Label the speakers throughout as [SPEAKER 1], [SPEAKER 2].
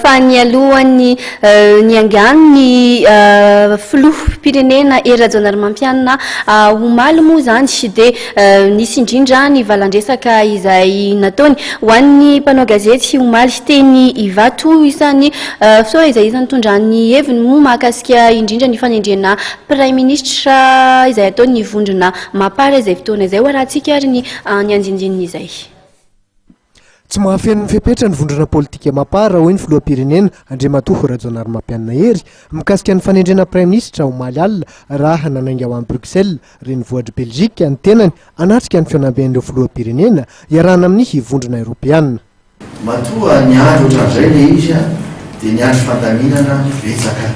[SPEAKER 1] fa nialohan'ny niangano ny filoham-pirenena Hery Rajaonarimampianina omaly moa izany dia nisy indrindra ny valan-dresaka izay nataony ho an'ny mpanao gazety omaly teny Ivato. Isan'ny fisaorana izay isan'ny nitondra ny heviny moa mahakasika indrindra ny fanendrena praiminisitra izay ataon'ny vondrona Mapar izay fotoana izay ho arahantsika ary ny andiandian'izay.
[SPEAKER 2] Tsy mahafeno ny fepetra ny vondrona politika Mapar, hoy ny filoham-pirenena, Andriamatoa Rajaonarimampianina Hery, mikasika ny fanendrena praiminisitra, omaly alina, raha nanainga ho any Bruxelles, renivohitr'i Belgique, ny tenany, hanatrika ny fihaonamben'ireo filoham-pirenena, iarahana amin'ny Vondrona Eoropeana. Matoa
[SPEAKER 3] niandry ohatran'izay ilay izy, dia niandry fandaminana betsaka.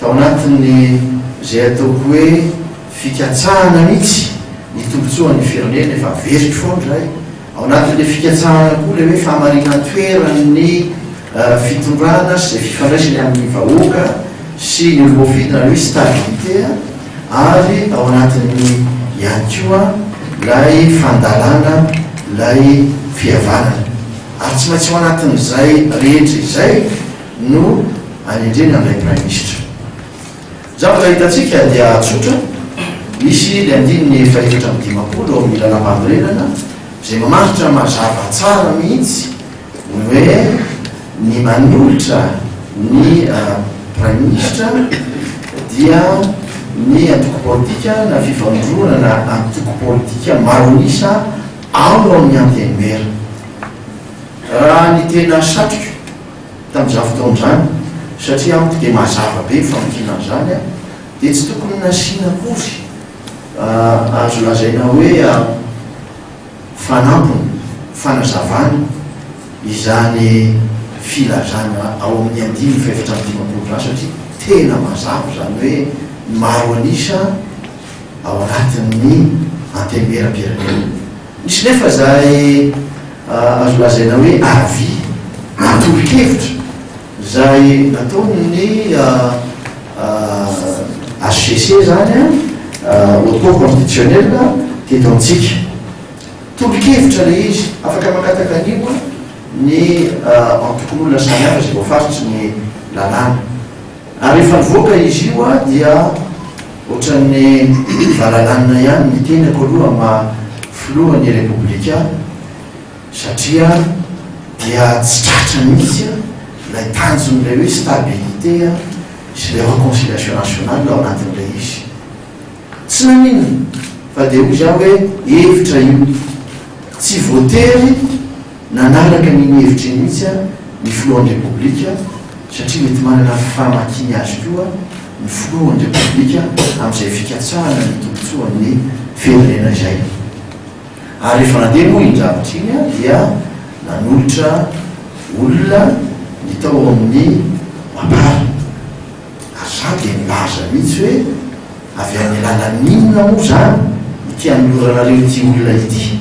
[SPEAKER 3] Tao anatin'ny izay ataoko hoe fikatsahana mihitsy ny tombontsoan'ny firenena, efa very foana izahay, Ao anatin'ilay fikatsahana koa ilay hoe fahamarinan-toeran'ny fitondrana sy izay fifandraisany amin'ny vahoaka sy ny olom-boafidy na ny hoe stabilité ary ao anatin'ny ihany koa ilay fandalana ilay fihavanana ary tsy maintsy ao anatin'izay rehetra izay no anendrena an'ilay Praiminisitra. Zavatra hitantsika dia tsotra, misy ny andininy fahefatra amby dimampolo ao amin'ny Lalàmpanorenana izay mamaritra mazava tsara mihitsy ny hoe ny manolotra ny Praiminisitra dia ny antoko politika na fifandronana antoko politika maro an'isa ao amin'ny Antenimiera. Raha ny tena satriko, Tamin'izany fotoana izany, satria amiko dia mazava be ny famakiana an'izany, dia tsy tokony nasiana akory azo lazaina hoe fanampiny, fanazavana izany filazana ao amin'ny andininy fahefatra amby dimampolo izany, satria tena mazava izany hoe maro an'isa ao anatin'ny Antenimierampirenena. Misy nefa izay azo lazaina hoe avis, tolo-kevitra, izay nataon'ny HCC izany, Haute Cour Constitutionnelle, teto amintsika. Tolo-kevitra ilay izy, afaka mangataka an'io ny antokon'olona samihafa izay voafaritry ny lalàna. Ary rehefa nivoaka izy io aho dia ohatran'ny valalanina ihany ny tenako aloha amin'ny maha filohan'ny Repoblika satria dia tsy tratra mihitsy ilay tanjon'ilay hoe stabilité sy ilay reconciliation nationale ao anatin'ilay izy. Tsy naninona fa dia hoy izaho hoe hevitra io, tsy voatery Nanaraka an'iny hevitra iny mihitsy ary ny filohan'ny Repoblika satria mety manana famakiany azy koa ny filohan'ny Repoblika amin'izay fikatsahana ny tombontsoan'ny firenena izay. Ary rehefa nandeha moa iny zavatra iny dia nanolotra olona ny tao amin'ny Mapar ary izaho dia nilaza mihitsy hoe avy amin'ny alalan'inona moa izany no te-hanoloranareo ity olona ity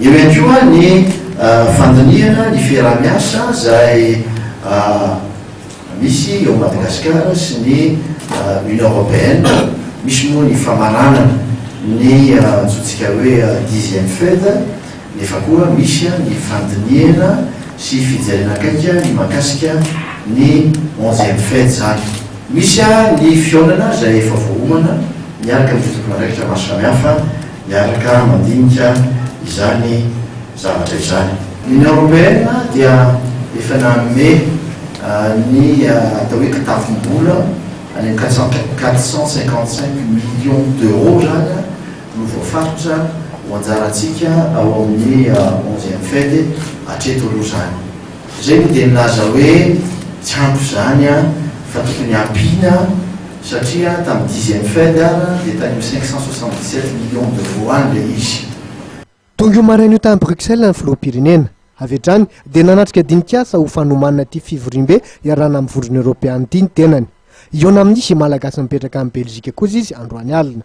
[SPEAKER 2] Eo ihany koa
[SPEAKER 3] ny fandinihana ny fiaraha-miasa izay misy eo Madagasikara sy ny Union Européenne. Misy moa ny famaranana ny antsointsika hoe dixième Fed nefa koa misy ny fandinihana sy fijerena akaiky ny mahakasika ny onzième Fed izany. Misy ny fihaonana izay efa voaomana miaraka amin'ny tomponandraikitra maro samihafa Miaraka mandinika izany zavatra izany. Ny Union Européenne dia efa nanome ny atao hoe kitavim-bola any amin'ny quatre cent quatre cent cinquante cinq millions d'euros izany no voafaritra ho anjarantsika ao amin'ny onzième FED hatreto aloha izany. Izay moa dia nilaza hoe tsy ampy izany fa tokony hampiana. Satria tamin'ny dixième fed ara dia tany amin'ny cinq cent soixante dix sept millions d'euros any ilay izy. Tonga io
[SPEAKER 2] maraina io tany Bruxelles ny filoham-pirenena. Avy hatrany dia nanatrika dinikasa ho fanomanana ity fivoriambe iarahana amin'ny vondrona eoropeana ity ny tenany. Hihaona amin'izy Malagasy mipetraka any Belzika kosa izy androany alina.